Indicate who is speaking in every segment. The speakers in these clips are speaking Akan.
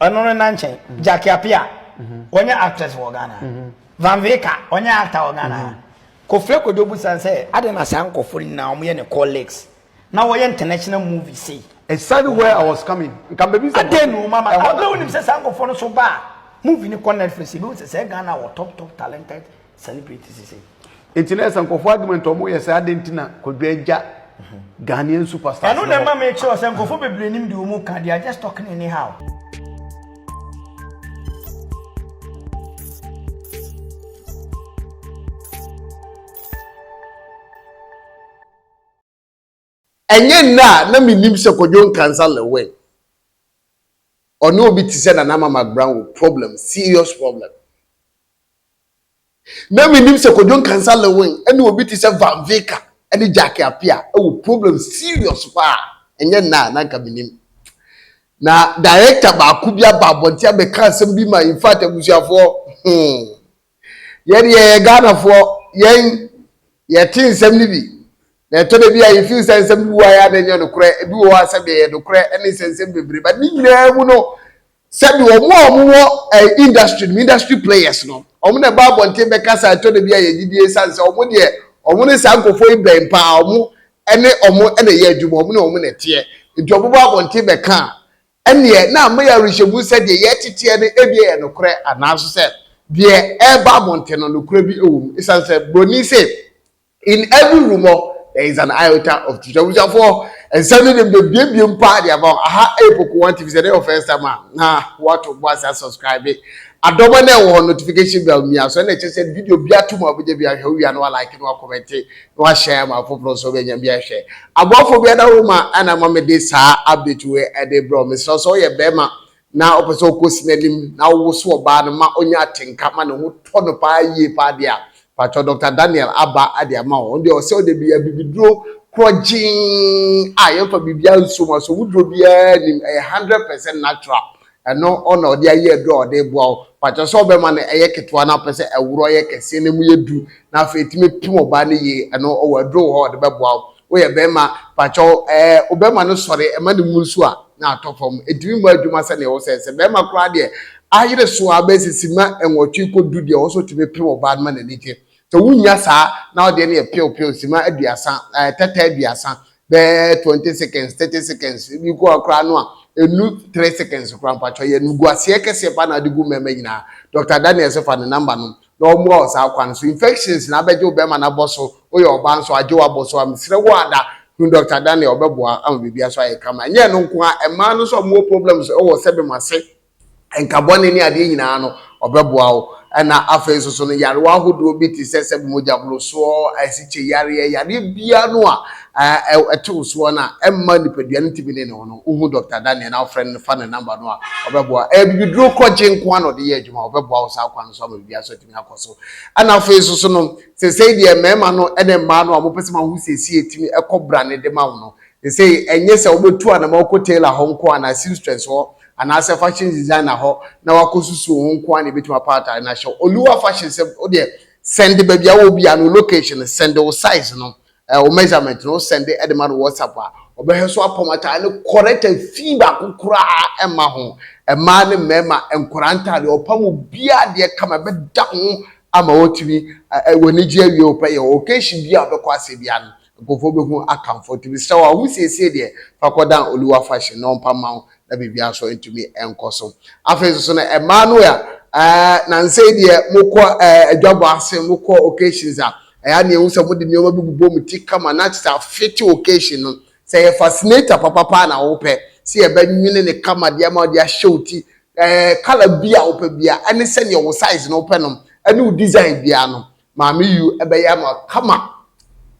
Speaker 1: ɔno no nankyɛn mhm. jackie apia mhm. ɔnyɛ actress wɔ ghana mhm. van veka ɔnyɛ actor wɔ ghana kofre kodo busan sɛ ade na saa nkɔfo nyinaa wɔn yɛ ne colleagues na wɔyɛ international movie sei. exactly where i was
Speaker 2: coming nka baabi sɛ. ade nu mama abirɛ
Speaker 1: onim sɛ saa nkɔfo no so ba a movie ni kɔ netflix ebi wɔ sɛ sɛ ghana wɔ top top talented celebrate sisi. Eti na ɛsɛ nkɔfo
Speaker 2: adwuma nti ɔmo yɛ sɛ adɛn nti na kwadwo agya Ghanaian superstars. Ɛno na ɛma me kyerɛ
Speaker 1: sɛ nkɔfo bebree nim deɛ ɔmo ka they are just talking anyhow.
Speaker 3: Ɛnyɛ nnɛ a na mennim sɛ Kwadwo Nkansah Lewin, ɔne obi te sɛ Nana Mama Agbran wɔ problem, serious problem. Na mennim sɛ Kwadwo Nkansah Lewin ne obi te sɛ Van Vika ne Jacky Apia wɔ problem serious paa. Ɛnyɛ nnɛ a na anka mennim. Na director baako bi aba abɔnten abɛka asɛm bi ma in fact abusuafoɔ hmm. Yɛdeɛ yɛyɛ Ghanafoɔ, yɛn yɛte nsɛm no bi, na ɛtɔ da bi a you feel sɛ nsɛm bi wɔ a yɛ a na ɛnyɛ nokorɛ, ebi wɔ hɔ a sɛdeɛ ɛyɛ nokorɛ ɛne nsɛnsɛm bebree, but ne nyinaa mu no sɛdeɛ wɔn a wɔn wɔ eh, industry no industry players no wɔn na ɛba abɔnten bɛkasa a ɛtɔ da bi a yɛgye die san sɛ wɔn deɛ wɔn ne saa nkurɔfoɔ yi bɛn paa wɔn ɛne wɔn ɛna ɛyɛ adwuma wɔn ne wɔn na ɛteɛ nti wɔn bɛba abɔnten bɛka a Ɛnneɛ, na ama yɛn awerɛhyɛmu sɛ deɛ yɛreteteɛ no ebia yɛ nokorɛ anaa nso sɛ deɛ ɛreba abɔnten no, nokorɛ bi wɔ mu. Ɛsiane sɛ Buroni se, In every rumour there is an iota of truth. Abusuafoɔ, nsɛm no deɛ mebiebiem paa de ama wo. Aha ɛyɛ Poku One TV. Sɛ ɛyɛ your first time a, na woato bo ase asubscribe. Adɔma no a ɛwɔ hɔ no, notification bell mia so. Ɛna ɛkyɛ sɛ video biara to mu a wobɛnya bi ahwɛ, wowia no woalike na woakɔmɛnte. wahyɛ ama afoforɔ nso bɛnya bi ahwɛ aboafo bi ada wo ma ɛna ɛma mede saa update wei ɛde brɛ wo mesrɛ sɛ woyɛ bɛrima na wopɛ sɛ wokɔsi n'anim na wowoso ɔbaa no ma ɔnya atenka ma ne ho tɔ no paa yie paa deɛ a patwɔ dr daniel aba ade ama wo deɛ ɔsɛ ɔde bi abibiduro korɔ gyeen a yɛmfa biribiara nsom aso woduro biara nim ɛyɛ 100 percent natural Ɛno na ɔde ayi aduru a ɔde reboa wo. Pakyɛ sɛ ɔbɛma no ɛyɛ ketewa na ɔpɛ sɛ ɛworo ɛyɛ kɛseɛ na ɛmu yɛ du na afei ɛtumi pem ɔbaa no yie, ɛno ɔwɔ aduro wɔ hɔ a ɔde bɛboa wo. Woyɛ bɛɛma, pakyɛ ɛɛ wobɛɛma no sɔre ɛma ne mu nsuo a na atɔ fam. Ɛtumi mmɔ adwuma sɛdeɛ ɛwɔ sɛ. Sɛ bɛɛma koraa deɛ, ayere so ara bɛyɛ sɛ simma nwɔtwe kɔ du deɛ ɔwɔ sɛ ɔtumi pem ɔbaa no ma n'ani gye. Sɛ wunnya saa na wo deɛ no yɛ pew pew, sima aduasa, ɛɛ tɛtɛ aduasa, bɛyɛ twenty seconds, thirty seconds, ebi kɔ hɔ koraa no a, ɛnnu three seconds koraa. Mpakyɛw yɛ animguaseɛ kɛseɛ paa na wode gu mmɛɛma nyinaa. Doctor Daniel se fa ne number nom na ɔmmoa wo saa kwan so. Infections na abɛgye wo bɛɛma no abɔ so, woyɛ ɔbaa nso agye wo abɔ so a, mesrɛ wo ada hu Doctor Daniel, ɔbɛboa ama biribiara so ayɛ kama. Ɛnyɛ ɛno nko ara, mmaa no nso a wɔwɔ problems wɔ sɛ bɛma se nka bɔne ne adeɛ nyinaa no, ɔbɛboa wo. Ɛna afei nso so no, yarewa ahodoɔ bi te sɛ sɛ mogyaborosoɔ, asikye yareɛ, yareɛ biara no a ɛte wo soɔ no a ɛmma nipadua no ntumi ne ne ho no, wohu Dɔkta Daniel na wofrɛ no no, fa ne namba no a, ɔbɛboa. Ɛyɛ bibiduro kɔgye nko ara na ɔde yɛ adwuma, ɔbɛboa wo saa kwan no so ama biribiara so atumi akɔ so. Ɛna afei nso so no, sesei deɛ mmarima no ne mmaa no a wɔpɛ sɛ wɔaho siesie tumi kɔ brane de ma wo no, sesei ɛnyɛ sɛ wobɛtu anama wokɔ tailor hɔ nko ara anaa seamstress hɔ anaasɛ fashion designer hɔ na wakɔsusu wo ho nko ara na ɛbɛtumi apa atade no ahyɛ wo. Oluwa fashion sɛ wodeɛ sɛnde baabi a wɔ bi a no location no sɛnde wo size no eh, wo measurement no wosɛnde ɛde ma no WhatsApp a ɔbɛhwɛ so apam atade no correct afii baako koraa ɛma ho mmaa ne mmarima nkwadaa ntadeɛ ɔpam obiara deɛ kama ɛbɛda ho ama wɔtumi eh, eh, wɔn ani gye awie wɔpɛ yɛ occasion bi a wɔbɛkɔ ase biara no Nkorɔfoɔ bɛhu akamfo nti mesrɛ wo a wo siesie deɛ fa kɔdan Oluwa fashion na ɔmpa mma wo na biribiara nso ntumi nkɔ so. Afei nso no mmaa no a nansei deɛ mokɔ adwabɔ ase, mokɔ occasions a ɛyɛ a na yɛhu sɛ mode nneɛma bi bobɔ mo ti kama na kyerɛ sɛ afete occasion no. Sɛ ɛyɛ fascinator papa paa na wopɛ sɛ yɛbɛnwene no kama de ama wo de ahyɛ wo ti, colour biara a wopɛ biara ne sɛdeɛ wo size no wopɛ no ne wo design biara no Maame Yu bɛyɛ ama wo kama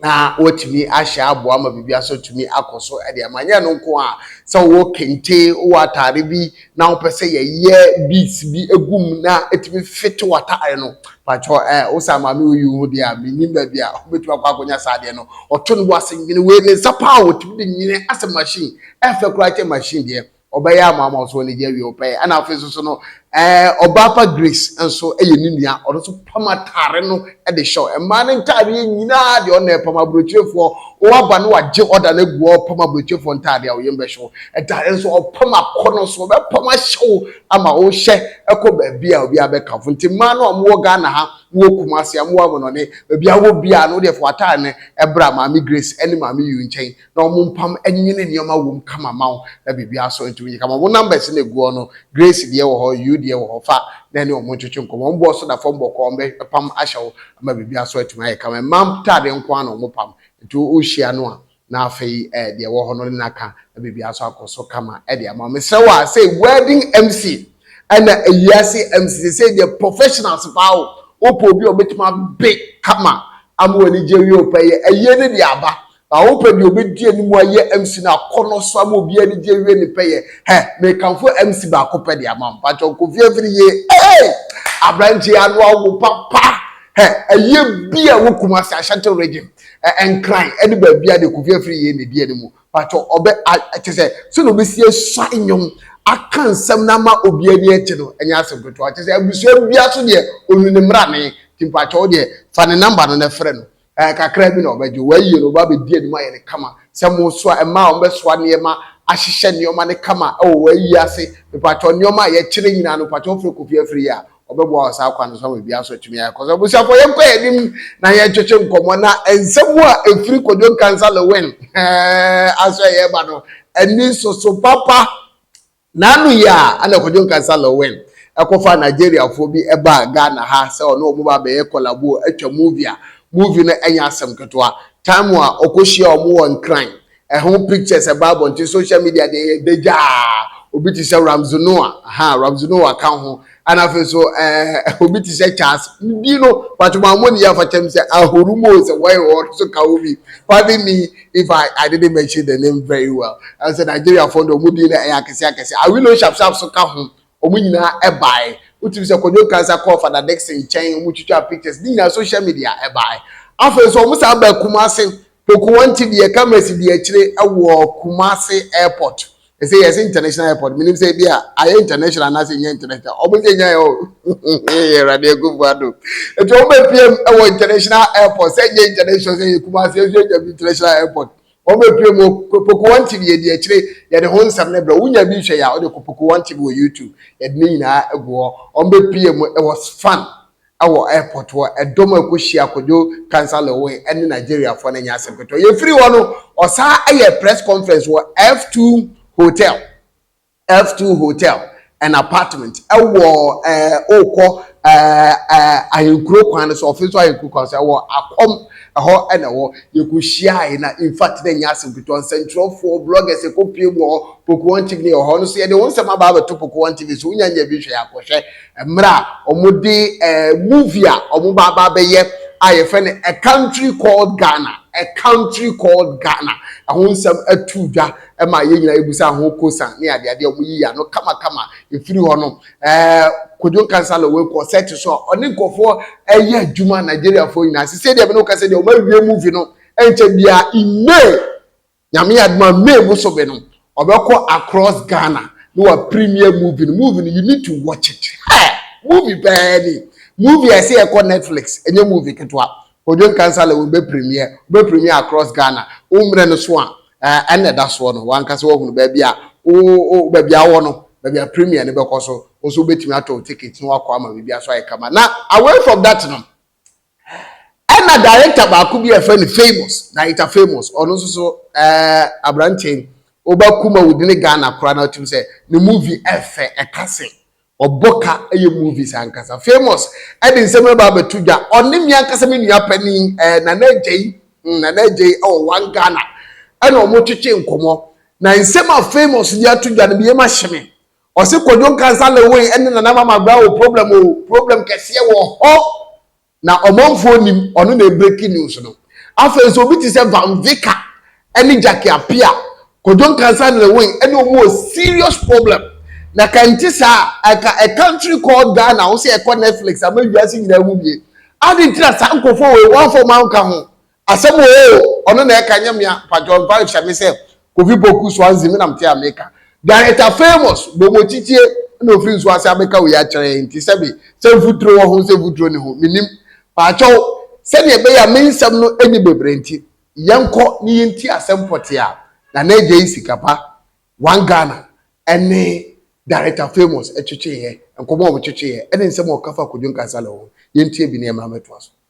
Speaker 3: na woatumi ahyɛ aboa ma biribi aso tumi akɔ so de ama. Nyɛ no nko a, sɛ wowɔ kente, wowɔ atade bi na wopɛ sɛ yɛyɛ beads bi gu mu na ɛtumi fete w'atade no, pakyɛ ɛ, wo saa Maame Yu yi ho deɛ a, mennim baabi a wobɛtumi akɔ akɔnya saa adeɛ no. Ɔto no bo ase nwene wei, ne nsa paa a wɔtumi de nwene asɛ machine, ɛfɛ koraa kyɛ machine deɛ. ɔbɛyɛ ama ama ɔso anigye awie ɔpɛyɛ ɛna afei nso so no ɛɛ ɔbaa pa grace nso ɛyɛ ne nua ɔno nso pam ataare no ɛde hyɛ mmaa ne ntaadeɛ nyinaa deɛ ɔna ɛpam aburokyerefoɔ ɔaba no wagye ɔda no agu ɔpam aburokyerefoɔ ntaadeɛ a ɔyɛ mbɛhyɛ wo ɛtaare nso ɔpam akɔ no so ɔbɛpam ahyɛ wo ama ɔhyɛ ɛkɔ baabi a obi abɛkafo nti mmaa no a wɔwɔ ghana ha wɔwɔ kumase a wɔwɔ amonɔne baabi a wɔwɔ biara no deɛ fo ataare no ɛbra maame grace ɛne maame yu nkyɛn na wɔn mpam nyini nneɛma wom kama ma wo na biribiara so ntumi nyɛ kama. Wɔn numbers na egu hɔ no, Grace deɛ wɔ hɔ, you deɛ wɔ hɔ, fa na ɛne wɔn ntwetwe nkɔmmɔ. Wɔn boɔ so da fam bɔkɔɔ, wɔn bɛpam ahyɛ wo ama biribiara so atumi ayɛ kama. Mmaa ntaadeɛ nko ara na wɔn pam, nti wohyia no a na afei eh, deɛ wɔ hɔ no ne no aka na biribiara so akɔ so kama de ama wo. Mesrɛ wo a, sɛ wedding MC ɛna ewiase MC sɛ sɛ deɛ professionals paa o, wopɛ obi a ɔbɛtumi abe kama ama w'ani gye awie ɔpɛ yɛ ayie ne deɛ aba Na wopɛ deɛ ɔbɛdi anim ayɛ MC no akɔnɔ so ama obiara ani gye awie ne pɛyɛ. Hɛ! Mekamfo MC baako pɛ de ama wo. Mpakyɛ wo Kofi Afiri yie. Eei! Aberanteɛ yi ano awo papa. Hɛ! Ayie biaa wɔ Kumasi, Ashanti region, ɛ, Nkran ne baabiaa deɛ Kofi Afiri yie na ɛdi anim. Mpakyɛ ɔbɛ, a, kyerɛ sɛ sɛdeɛ ɔbɛsi asua nnwom, aka nsɛm no ama obiara ani agye no ɛnyɛ asɛm ketewa. Kyerɛ sɛ abusua biara so deɛ ɔnu ne mmrane. Nti mpakyɛ wo deɛ fa ne number no na frɛ no. Ɛɛ, kakra bi na wɔbɛgye wo. Wɔayi no, wɔabɛdi anim ayɛ no kama. Sɛ mosoa, mmaa a wɔbɛsoa nneɛma, ahyehyɛ nneɛma no kama wɔ wɔayi ase, mepakyɛw, nneɛma a yɛkyerɛ nyinaa no, mepakyɛw wofrɛ Kofi afiri yi a, ɔbɛboa wɔ saa kwan no so ama biribiara nso atumi ayɛ kɔ. So abusuafoɔ, yɛnkɔ yɛn anim na yɛntwetwe nkɔmmɔ na nsɛm a ɛfiri Kwadwo Nkansah Lewin ɛɛ, aso a yɛreba no, ani nsoso papa. N'ano yi a ɛna Kojo Nkansah Lawin kɔfaa Nigeriafoɔ bi baa Ghana ha sɛ ɔne wɔn ba bɛyɛ kɔlabo atwa movie a movie no nyɛ asɛm ketewa. Time a ɔkɔhyiaa wɔn wɔ Nkran, ɛho pictures ɛbaa abɔnten, social media deɛ yɛda gyaa. Obi te sɛ Ramsey Nouah, ahaa, Ramsey Nouah ka ho, Ɛna afei nso ɛɛ obi te sɛ Charles bi no pàtó mu amoni yɛ afakyɛ mu sɛ ahoro mu o sɛ wɔyɛ wɔn nso ka wo bi pardon me if I I didn't mention the name very well ɛsɛ Nigeria fo no wɔn din no ɛyɛ akɛse akɛse awilo sharp sharp so ka ho wɔn nyinaa ɛbae wotumi sɛ kɔdwo kansa kɔɔ fada Dixon nkyɛn wɔn twitwa pictures ne nyinaa social media ɛbae afei nso wɔn san baa Kumasi Tokowanti deɛ camera si deɛ akyire wɔ Kumasi airport ɛsɛ yɛsɛ international airport menim sɛ ebi a ayɛ international anaasɛ ɛnyɛ international ɔmo sɛ ɛnya yɛ o awurade akufo ado ɛti ɔmo bɛ pm ɛwɔ international airport sɛ ɛnyɛ international sɛ yɛ Kumasi ɛsɛ ɛnya bi international airport ɔmo bɛ pm o Pokowanti deɛ deɛ akyire yɛde ho nsɛm ne brɛ wonya bi hwɛ yɛ a ɔde kɔ Pokowanti wɔ YouTube yɛde ne nyinaa agu hɔ ɔmo bɛ pm ɛwɔ Sfan wɔ airport hɔ, ɛdɔm a ɛkɔhyia Kojo Cancer Lewin ne Nigeriafoɔ no nyɛ asɛm ketewa. Yɛfiri hɔ no, ɔsan yɛɛ press conference wɔ F2 Hotel, F2 Hotel and Apartment wɔ wokɔ Ahenkuro kwan no so, ɔfe so Ahenkuro kwan so, wɔ Akom ɛhɔ na ɛwɔ. Yɛkɔhyiae na in fact na ɛnyɛ asɛm ketewa, nsɛntwerɛfoɔ, bloggers ɛkɔpue mu wɔ hɔ, Pokuon TV ne ɛwɔ hɔ, ɔno nso yɛde wo nsɛm aba abɛto Pokuon TV so, wonya nya bi hwɛ a kɔhwɛ Mmerɛ a wɔde movie a wɔba aba abɛyɛ a yɛfrɛ no A Country Called Ghana, A Country Called Ghana, ɛho nsɛm atuu dwa ma yɛn nyinaa yɛbusa ho kosan ne adeadeɛ wɔn yiyi ano kamakama ɛfiri hɔ no ɛɛ Kojo Nkansah Lawal kɔ sɛ te so a ɔne nkurɔfoɔ ɛyɛ adwuma Nigeriafoɔ nyinaa sɛ sɛdeɛ me ne wo kasa deɛ wɔn awie movie no ɛnkyɛ biara in May Nyame yɛ adom a May bosome no ɔbɛkɔ across Ghana na wa premier movie no movie no you need to watch it ha movie paa ni movie a ɛsɛ yɛkɔ Netflix ɛnyɛ movie ketewa Kojo Nkansah Lewin bɛ premier bɛ premier across Ghana wo mmerɛ no so a ɛna ɛda soɔ no wankasa wahunu baabi a wo baabi a wɔ no baabi a premier no bɛkɔ so wo nso wobɛtumi atɔ ticket na wakɔ ama biribi aso ayɛ kama na away from that no Ɛna director baako bi a yɛfrɛ no Famous, Director Famous, ɔno nso so ɛɛ aberanteɛ yi, ɔba kuma wudi ne Ghana koraa na ɔtum sɛ ne movie ɛfɛ ɛka se ɔbɔ ka ɛyɛ movies ankasa. Famous ɛde nsɛm no ba abɛto dwa, ɔne me ankasa me nua panin ɛɛ Nana Agyei, mm, Nana Agyei ɛwɔ One Ghana ɛna wɔn twetwe nkɔmɔ. Na nsɛm a Famous de ato dwa no, me yam ahye me. Ɔse Kwadwo Nkansah Lewin ɛne Nana Ama Magbra wɔ problem o, problem kɛseɛ wɔ hɔ na ɔmanfoɔ nnim, ɔno na ɛbreki news no. Afei nso obi te sɛ Van Vicker ɛne Jackie Appiah, Kwadwo Nkansah and Lewin ɛne ɔmo wɔ serious problem na ka ɛnte saa a anka a country called Ghana wo se ɛkɔ Netflix ama wiase nyinaa hu wie. Aden nti na saa nkorɔfoɔ wei wɔamfa ɔmo anka ho Asɛm oo ɔno na ɛka nyɛ mea mpakyɛw mfa nhyɛ me sɛ Kofi Poku Swansea me na mete a meka Director famous Bomochichie na ofiri nsuo ase abɛka wei akyerɛ yɛn nti sɛbe sɛ mfuturo wɔ ho sɛ mfuturo nni ho menim Pakyɛw sɛdeɛ ɛbɛyɛ a me nsɛm no nni bebree nti yɛnkɔ ne yɛnti asɛm pɔtee a Nana Agyei Sikapa One Ghana ɛne Director famous ɛtwetweeɛ nkɔmmɔ a wɔtwetweeɛ ɛne nsɛm a ɔka fa Kwadwo Nkansale ho yɛntie bi na yɛmmra mmɛtoa so.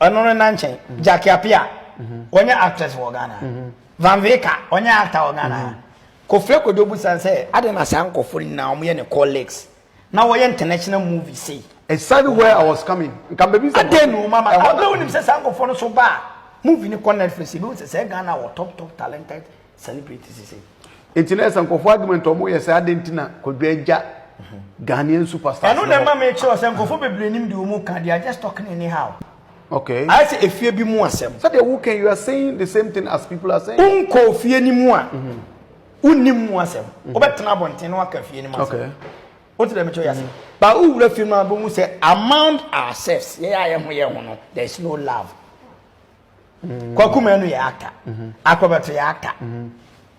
Speaker 1: ɔno no nankyɛn mhm. jackie apia mhm. ɔnyɛ actress wɔ ghana mhm. van veka ɔnyɛ actor wɔ ghana kofre kodo busan sɛ ade na saa nkɔfo nyinaa wɔn yɛ ne colleagues na wɔyɛ international movie sei. exactly where i was
Speaker 2: coming nka baabi sɛ. ade nu
Speaker 1: mama abirɛ wo nim sɛ saa nkɔfo no so ba a movie ni kɔ netflix ebi wo sɛ sɛ ghana wɔ top top talented celebrate sisi. Eti na ɛsɛ
Speaker 2: nkɔfo argument ɔmo yɛ sɛ adɛn ti na kwadwo agya Ghanaian superstars. Ɛno na ɛma me kyerɛ
Speaker 1: sɛ nkɔfo bebree nim deɛ ɔmo ka they are just talking anyhow. Okay. Ayɛ
Speaker 2: sɛ efie bi
Speaker 1: mu asɛm. Sɛdeɛ wo ka yi you are saying
Speaker 2: the same thing as people are saying. Wo nkɔ ofie no mu a
Speaker 1: wo nim mu asɛm wo bɛ tena abɔnten na waka fie no mu asɛm. Okay. Wo ti
Speaker 2: dɛ me kyerɛ yɛ
Speaker 1: asɛm. Ba wo wura fie no a bɛ hu sɛ among ourselves yɛ yɛ a yɛ ho yɛ ho no there is no love. kwakuma no yɛ actor mhm. akɔbɛto yɛ actor mhm.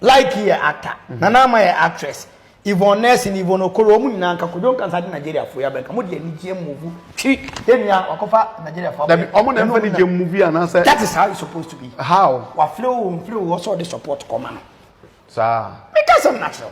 Speaker 1: like yɛ actor mhm. nana ama yɛ actress yvonne nurse ne yvonne okoro wɔn nyinaa nka kodwo nkasa de nigeria fo yɛ abɛnka mo de anigyeɛ mmovu twi yɛn nua wakɔfa nigeria fo abɛnka wɔn na nfa anigyeɛ
Speaker 2: mmovu anaasɛ that is how it supposed to be
Speaker 1: how wafile wo
Speaker 2: nfile wo
Speaker 1: wɔsɔ ɔde support kɔma no saa
Speaker 2: mi ka sɛm na kyerɛw.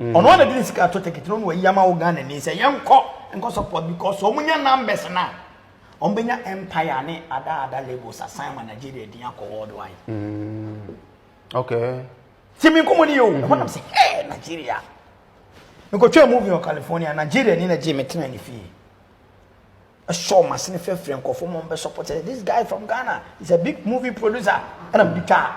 Speaker 1: Ɔno ara na de ne sika ato ticket no na wayi ama wo Ghanani sɛ yɛnkɔ nkɔ support because wɔn nya numbers na wɔn bɛnya empire ne ada ada labels asan ma Nigeria din akɔ worldwide. Mm. Okay.
Speaker 2: Ti mi nkɔmɔ ni yɛ o.
Speaker 1: Ɛhɔ nam sɛ hey Nigeria. Mekɔtwa movie wɔ California Nigeria ni na gye me tena ne fie. Ɛsɔɔ m'asene frɛfrɛɛ nkurɔfoɔ ma wɔbɛ support sɛ this guy from Ghana is a big movie producer ɛna mede twaa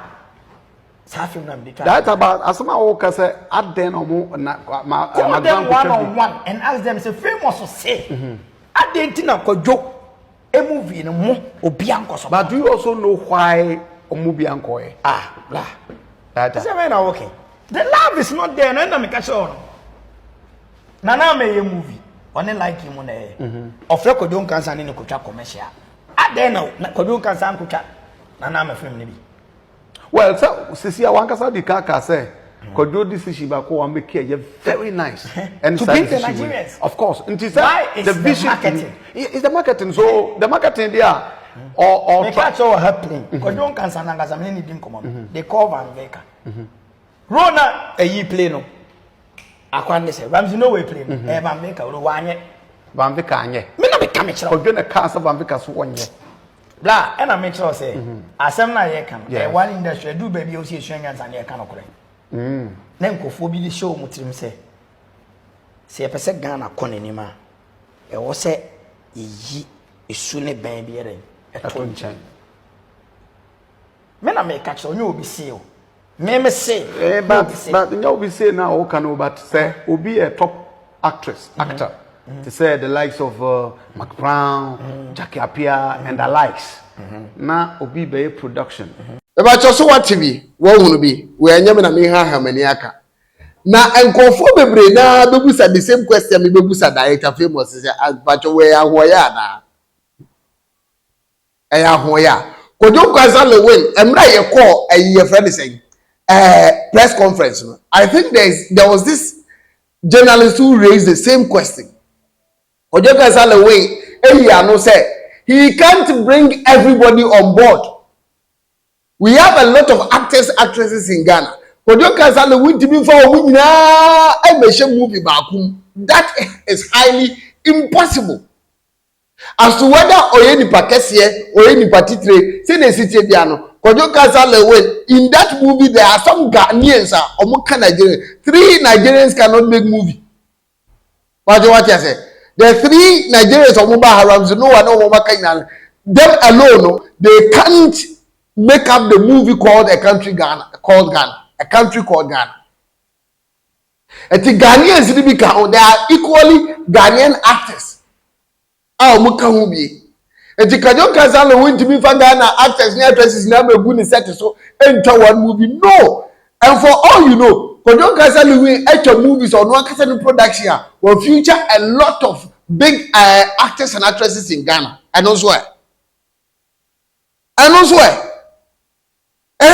Speaker 1: saa film
Speaker 2: na mede twaa. That about asɛm a wɔka sɛ adɛn na wɔn na ma ma dwan kɔtwa bi.
Speaker 1: Call them one on one and ask them sɛ famous sɛ mhm. adɛn ti na kɔdwo emu vi no mo obi ankɔ support. But do you also know
Speaker 2: why wɔn bi ankɔ yɛ. Ah bla.
Speaker 1: That that. Ɛsɛ bɛyɛ na wɔkɛ. The love is not there na ɛna meka kyerɛ wɔn. nana ama ɛyɛ movie ɔne like mu na ɛyɛ mhm. ɔfrɛ kwadwo nkansa ne ne kotwa commercial adɛn na kwadwo nkansa nkotwa nana ama film no bi well
Speaker 2: sɛ sisi a wankasa di kaka sɛ kwadwo decision baako wa make ɛyɛ very nice and to bring the nigerians
Speaker 1: of course nti sɛ why
Speaker 2: is the, the vision
Speaker 1: marketing is the marketing
Speaker 2: so the marketing there a ɔtɔ meka kyerɛ wɔ ha
Speaker 1: pin kwadwo nkansa nankasa mene ne di nkɔmmɔ no they call van veka mm -hmm. Role na ɛyi play no akwan ne sɛ Ramsey no wei play no mhm. ɛyɛ Bambika wei wanyɛ. Bambika anyɛ.
Speaker 2: Me na meka me kyerɛ. Kɔdwe
Speaker 1: na kaa sɛ Bambika
Speaker 2: so wɔnyɛ. Bla ɛna
Speaker 1: me kyerɛ sɛ mhm. asɛm no a yɛka no ɛyɛ one industry ɛdu baabi a wosi esua nyansa ne ɛka no korɛ. Mm. Na nkurɔfoɔ bi de hyɛ wɔn tirim sɛ sɛ yɛpɛ sɛ Ghana kɔ n'anim a ɛwɔ sɛ yɛyi esu ne bɛn biara ɛto nkyɛn. Me na meka kyerɛ onye obi see o. Me me se. Eh, but but nyɛ obi
Speaker 2: say na o ka no but sɛ mm-hmm. obi yɛ top actress mm-hmm. actor mm-hmm. te sɛ the likes of uh, Mark Brown, Jackie Apia and the likes na obi bɛyɛ production. Ɛbɛkyɛ so
Speaker 3: wate bi wɔhunu bi wɔanyɛ me na me ha ahamani aka na nkurɔfoɔ bebree naa bɛbusa the same question me bɛbusa director famous sɛ abakyɛ wɔyɛ ahoɔyɛ anaa ɛyɛ ahoɔyɛ a Kojo Nkwasa Lewin mmerɛ a yɛkɔɔ ɛyi yɛfrɛ ne sɛn ɛɛ press conference no I think there is there was this journalist who raised the same question Kojo Nkwasa Lewin eyi ano sɛ he can't bring everybody on board we have a lot of actors actresses in Ghana Kojo Nkwasa Lewin tìmi fa wɔn nyinaa ɛmɛhyɛ movie baako mu that is highly impossible. As to whether ɔyɛ nipa kɛseɛ, ɔyɛ nipa titire, sɛdeɛ ɛsi teɛ biara no, Kojo Kasa Lewin, in that movie there are some Ghanaians a wɔn ka Nigerian, three Nigerians cannot make movie. Wagye wate asɛ, the three Nigerians wɔn ba ha Ramsey Noah ne wɔn aka nyinaa no, them alone no, they can't make up the movie called a country Ghana, called Ghana, a country called Ghana. Ɛte Ghanaians no bi ka ho, there are equally Ghanaian actors a wɔn ka ho bie. Nti Kadjo Kansalo wontumi nfa Ghana actors ne actresses nyinaa ma gu ne set so ntwa one movie no and for all you know Kadjo Kansalo wi atwa movies ɔno ankasa ne production a wɔ future a lot of big uh, actors and actresses in Ghana ɛno nso ɛ ɛno nso ɛ. Ɛ,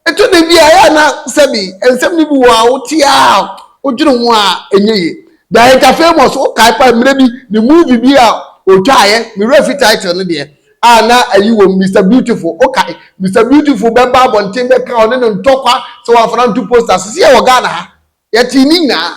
Speaker 3: ɛtɔ da bi a ɛyɛ a na sɛbi nsɛm no bi wɔ a wote a wodwene ho a ɛnyɛ yie. Director Famous, wokae paa mmerɛ bi ne movie bi a ɔtwaeɛ, me werɛ afi title no deɛ, a na ayi wɔ mu, Mister Beautiful, wokae? Mister Beautiful bɛba abɔnten bɛka ɔne no ntɔkwa sɛ wamfa no anto posters. Seesei yɛwɔ Ghana ha, yɛtee ne nyinaa.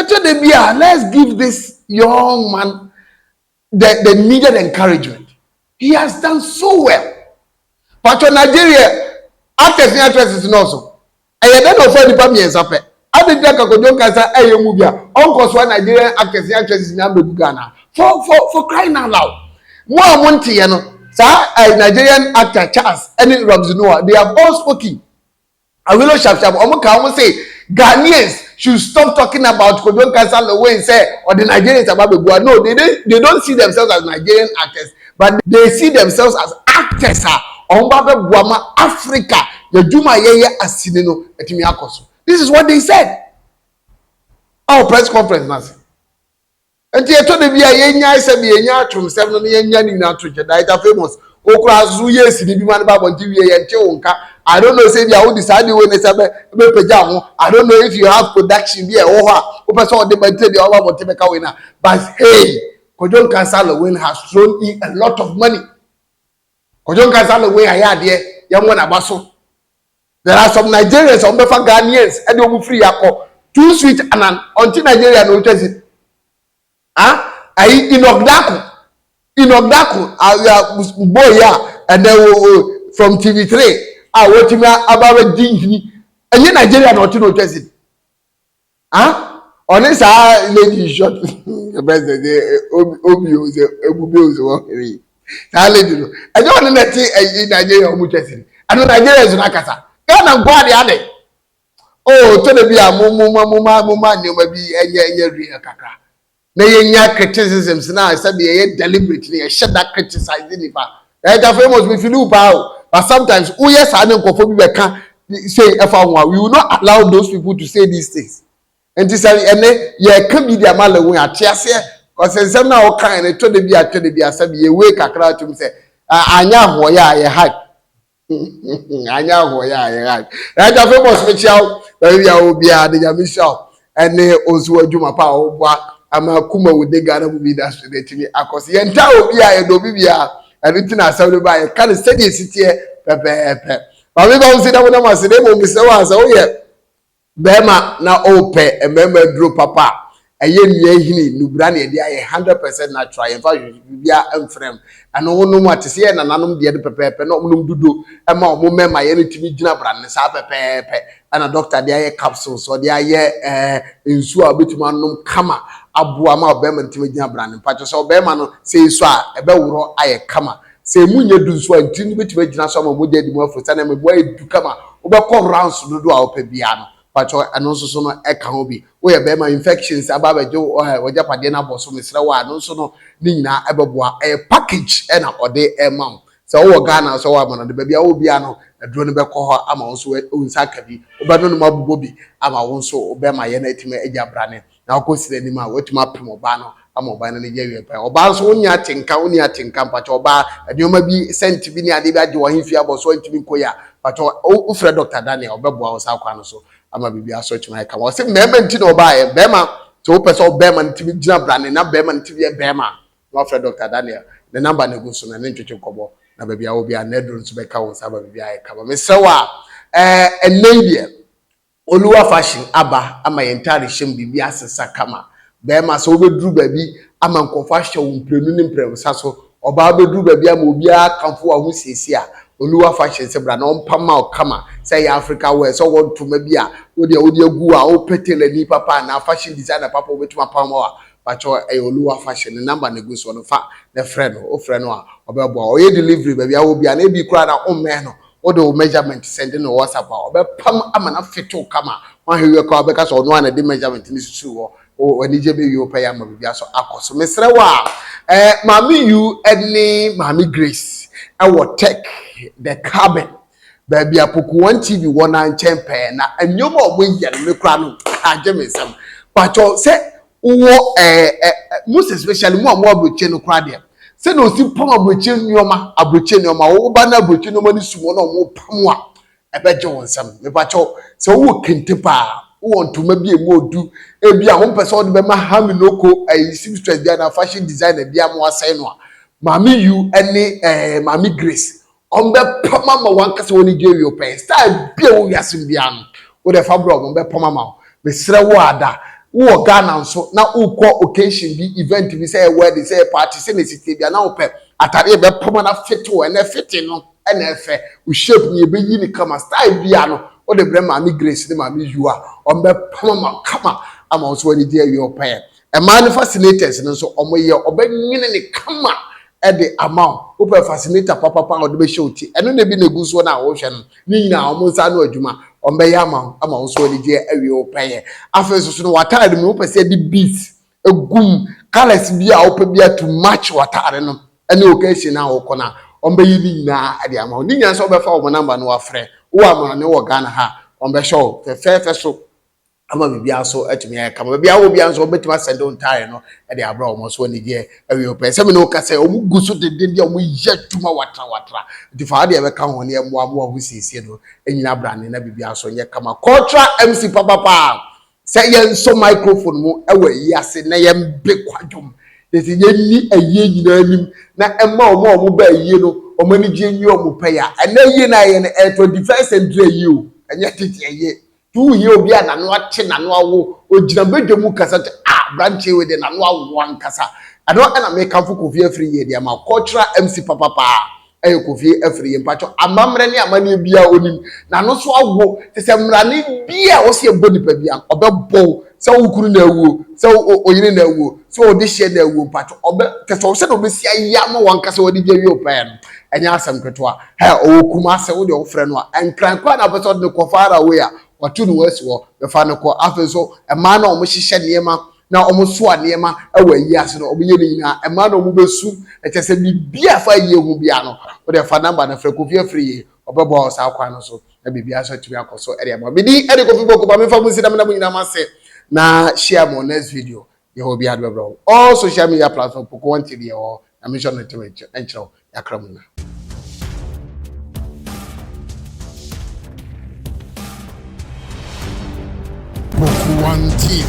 Speaker 3: ɛtɔ da bi a let's give this young man the the needed encouragement he has done so well pàtó nigeria actors ní actresses náà so ɛyɛ dɛ na ɔfa nipa mmiɛnsa pɛ adi nti akakodwo nkasa ɛyɛ mu bi a ɔnkɔ so a nigerian actors ní actresses ní abegu ghana for for for crying out loud mo a mo nti yɛ no saa nigerian actor charles ɛne robson noah they have all spoken. Awilo sharp sharp ɔmo ka ɔmo se Ghanaians should stop talking about Kojo Nkasa Lowin sɛ ɔde Nigerians aba abɛbua no they don't they don't see themselves as Nigerian actors but they see themselves as actors a ɔmo ba abɛboa ma Africa yɛdwuma a yɛyɛ asini no atumi akɔ so this is what they said ɛwɔ press conference no ase. Enti ɛtɔ da bi a yɛnyae sɛdeɛ yɛnya atoromsɛm no na yɛnya ne nyinaa to nkyɛn. Dieta Famous, wo koraa nso so woyɛɛ sini bi ma no baa abɔnten wieɛ yɛntee wo nka. I don't know sɛ ebia wode saa adeɛ wei na ɛsɛ sɛ wobɛpagya wo ho. I don't know if you have production bi a ɛwɔ hɔ a wopɛ sɛ wode ba nti ebia woaba abɔnten bɛka wei no a but hey! Kwadwo Nkansah Lewin has thrown in a lot of money. Kwadwo Nkansah Lewin ayɛ adeɛ, yɛmmɔ n'aba so. There are some Nigerians a wɔbɛfa Ghanaians de wɔn firi yɛ akɔ too sweet anan ɔnte Nigeria na ɔtwa si ah ayi inɔgdako inɔgdako aya boy a ɛnɛ wo wo from tv three a wɔtumi aba abɛdi nhini ɛnyɛ Nigeria na ɔte na ɔtwa si ah ɔne saa lady short bɛsɛ sɛ obi o sɛ ebube o sɛ ɔhene yi saa lady no ɛnyɛ ɔne na ɛte ɛyi nigeria ɔmo twɛ si ɛno nigeria so n'akasa ghana nkɔ ade ade o tɔ da bi a mo mo ma mo ma mo ma nneɛma bi ɛnyɛ ɛnyɛ real kakra na yɛnya criticisms no a sɛdeɛ yɛyɛ deliberate no yɛhyɛ da criticize nnipa ɛda fo amos mefili wo paa o but sometimes woyɛ saa ne nkɔfoɔ bi bɛka sei ɛfa ho a we will not allow those people to say these things nti sɛ ɛne yɛka bi de ama la hu ate aseɛ kɔsɛ nsɛm no a wokae no tɔ da bi a tɔ da bi a sɛbi yɛwei kakra atom sɛ anyɛ ahoɔyɛ a yɛ hype anyɛ ahoɔ yɛ a yɛra ɛda famous mekyia wo baabi a wɔ biara de nyame hyira wo ɛne wo nso w'adwuma pa a woboa ama kuma wo de ghana movie industry no atumi akɔ so yɛnta obi a yɛdɔ obi biara ɛno nti na asɛm no ba yɛka no sɛdeɛ ɛsiteɛ pɛpɛɛpɛ maame ba wo si na wonam ase na mmom mesrɛ wo a sɛ woyɛ Bɛɛma na ɔɔpɛ mmɛɛma aduro papa a ɛyɛ nua hini nubra na yɛde ayɛ hundred percent natural yɛnfa hwehwɛ bibia mfrɛ mu ɛno wo nom a te sɛ yɛ nananom deɛ no pɛpɛɛpɛ na ɔmo nom dodo ɛma ɔmo mmɛɛma yɛ no tumi gyina bra no saa pɛpɛɛpɛ ɛna doctor de ayɛ capsules ɔde ayɛ ɛɛ nsuo a ɔbɛtumi anom kama aboa ma ɔbɛɛma no tumi gyina bra no mpakyɛ sɛ ɔbɛɛma no sɛ yɛsɔ a ɛbɛworɔ ayɛ kama Sɛ emu nyɛ du nso a, ntini no betumi agyina so ama mogya adi mu aforo. Sɛnea meboa yɛ du kama, wobɛkɔ rounds dodoɔ a wopɛ biara no, pakyɛ ɛno nso so no ɛka ho bi. Woyɛ barima, infections aba abɛgye wo eh, w'agyapadeɛ no abɔ so, mesrɛ wo a, ɛno nso no ne nyinaa ɛbɛboa. Ɛyɛ package ɛna ɔde ɛma wo. Sɛ wowɔ Ghana a, sɛ wowɔ amanɔne baabi a wowɔ biara no, aduro no bɛkɔ hɔ ama wo nso, wo nsa aka bi, wobɛnonom abobɔ bi ama wo nso wo bɛrmayɛ no atumi agya abrane. na ɔkɔ sira anim a watumi apem ɔbaa no ama ɔbaa no anigye awie paa ɔbaa nso wonni atenka wonni atenka mpakyɛ ɔbaa nneɛma bi sɛnti bi ne adeɛ bi agye wɔn fi abɔ so ntumi nkɔ yia mpakyɛ wofrɛ dɔkta daniel ɔbɛboa wo saa kwan no so ama biribi asɔ atumi ayɛ kama ɔsɛ mmarima nti na ɔbaa yɛ bɛrima sɛ wopɛ sɛ ɔbɛrima no tumi gyina brane na bɛrima no tumi yɛ bɛrima na wafrɛ dɔkta daniel ne namba no gu so na ne ntwetwe nkɔmmɔ na baabi a wɔ bi a na aduro nso bɛka wo nsa ama biribi ayɛ kama mesrɛ wo a ɛɛ ɛnna yi deɛ Oluwa fashion aba ama yɛn ntade hyɛ mu biribi asesa kama. Barima sɛ wobɛduru baabi ama nkurɔfo ahyɛ wo mprenu ne mprɛnsa so, ɔbaa wobɛduru baabi ama obiara akamfo w'ahosiesie a, Oluwa fashion sɛ bra na ɔmpa mma wo kama. Sɛ ɛyɛ Africa wear, sɛ ɔwɔ ntoma bi a wo deɛ wode agu hɔ a wopɛ tailorni papa anaa fashion designer papa a obetumi apam ama wo a, pakyɛw ɛyɛ Oluwa fashion ne number na egu soɔ no fa na frɛ no. Wofrɛ no a ɔbɛboa wo. Ɔyɛ delivery baabiara wɔ biara na ebi koraa na wommɛn no, wode wo measurement sɛnde no wɔ WhatsApp a, ɔbɛpam ama no afetew kama. Woahwɛ wie koraa ɔbɛka sɛ ɔno a na ɛde measurement no susuw hɔ. O, anigye bɛwie wo pɛyɛ ama biribiara so akɔ so. Mesrɛ wo a, eh, Maame Yu ne Maame Grace wɔ Tech, The Cabin, baabi a Poku One TV wɔ no ara nkyɛn pɛɛ, na nneɛma a wɔyɛ no me koraa no agye me nsam. Pakyɛw sɛ Wowɔ ɛɛ ɛ most especially mo a mo aburokyire no koraa deɛ sɛ na osi pam aburokyire nneɛma aburokyire nneɛma wo ba na aburokyire nneɛma no sum wɔn a wɔn pam a ɛbɛgye wɔn nsam mepakyɛw sɛ wowɔ kente paa wowɔ ntoma bi a emu odu ebi a wɔn pɛ sɛ wɔde bɛma haminoko ɛyi seamstress bi anaa fashion designer bi a mo asɛn no a maame yu ɛne ɛɛ maame grace Wɔbɛpam ama wo ankasa w'ani gye wie pɛn. Style bi a ɛwɔ wiase mu biara no, wo deɛ fa brɛ wɔn, wɔbɛpam ama wo. Mesrɛ wo ara da, wowɔ Ghana nso na wokɔ occasion bi, event bi, sɛ ɛyɛ wedding, sɛ ɛyɛ party, sɛdeɛ ɛsi teɛ biara, na wopɛ atadeɛ a ɛbɛpam ara fit wo. Ɛnnɛ fitting no na ɛfɛ. Wo shape no, yɛbɛyi no kama. Style biara no, wode brɛ Maame Grace ne Maame Yua, wɔbɛpam ama wo kama ama wo nso w'ani gye awie pɛn. Mmaa no fascinators no nso, wɔyɛ wɔbɛnwene no kama de ama wo. Wopɛ fascinator papapa a wɔde bɛhyɛ wo ti, ɛno na ebi na egu soɔ no a worehwɛ no, ne nyinaa wɔn nsa ano adwuma, wɔbɛyɛ ama wo ma wo so anigyeɛ awie wo pɛyɛ. Afei nso so no w'ataade mu wopɛ sɛ yɛde beads egu mu, colours bi a wopɛ biara to match w'ataade no ne occasion a wokɔ no a, wɔbɛyɛ ne nyinaa de ama wo. Ne nyinaa nso wɔbɛfa wɔn number no wafrɛ wowɔ amane wɔ Ghana ha a, wɔbɛhyɛ wo fɛfɛɛfɛ so. ama biribiara nso atumi ayɛ kama. Baabi a wɔ biara nso, wɔbɛtumi asɛnde wo ntaare no de abrɛ wɔn so anigyeɛ awie pɛn. Sɛ me ne wo ka sɛ, wɔn gu so denden deɛ wɔyɛ adwuma watra watra. Nti fa adeɛ ɛbɛka ho ne ɛmmoa mmoa ho siesie no nyina abrane na biribiara nso nyɛ kama. Kɔtra MC papapa sɛ yɛnsɔ microphone mu wɔ ayi ase na yɛmbe kwadwom na sɛ yɛnni ayie nyinaa anim na ɛma wɔn a wɔn ba ayie no wɔn anigyeɛ nwie wɔn pɛ ya. Ɛnɛ ayie no a yɛyɛ no ɛyɛ tɔ defense and dre ayie o, ɛnyɛ tete ayie. To wo hia obi a n'ano ate, n'ano awo, ogyina badwa mu kasa te, a aberanteɛ wei deɛ n'ano awo ankasa. Ɛno na mekamfo Kofi Afiri yɛ de ama cultural MC papa paa ɛyɛ Kofi Afiri yɛ mpakyɛ amammerɛ ne amanneɛ biara onim n'ano so awo te sɛ mmrane bi a ɔsi ɛbɔ nipa bi a ɔbɛbɔw sɛ okunu na awuo sɛ oyere na awuo sɛ ɔdehyeɛ na awuo mpakyɛ ɔbɛ te sɛ ɔsɛ na ɔbɛsi ayɛ ama wɔn ankasa wɔde gya wie ɔpɛɛ no ɛnyɛ asɛm ketewa. Hɛ, ɔwɔ Kumase, wo deɛ wofrɛ no a, Nkran koraa na wopɛ sɛ ɔde no kɔ far away a, watu ne ho asi hɔ, bɛfa no kɔ. Afei nso, mmaa no a wɔhyehyɛ nneɛma na wɔsoa nneɛma wɔ ayie ase no, wɔyɛ ne nyinaa. Mmaa no a wɔbɛsu, kyerɛ sɛ biribiara a ɛfa ayie ho biara no, wo deɛ fa number no frɛ Kofi Afriyie, ɔbɛboa wo saa kwan no so na biribiara nso atumi akɔ so de ama wo. Me din de Kofi Boko, ma memfa mo nsi na meda mo nyinaa mo ase na share mo next video. Yɛwɔ obi ade bɛbrɛ wo. All social media platform poko wɔn te deɛ ɛwɔ hɔ na me nso ɛno te me nkyerɛ wo yakra mu na.
Speaker 4: Poko wɔn TV.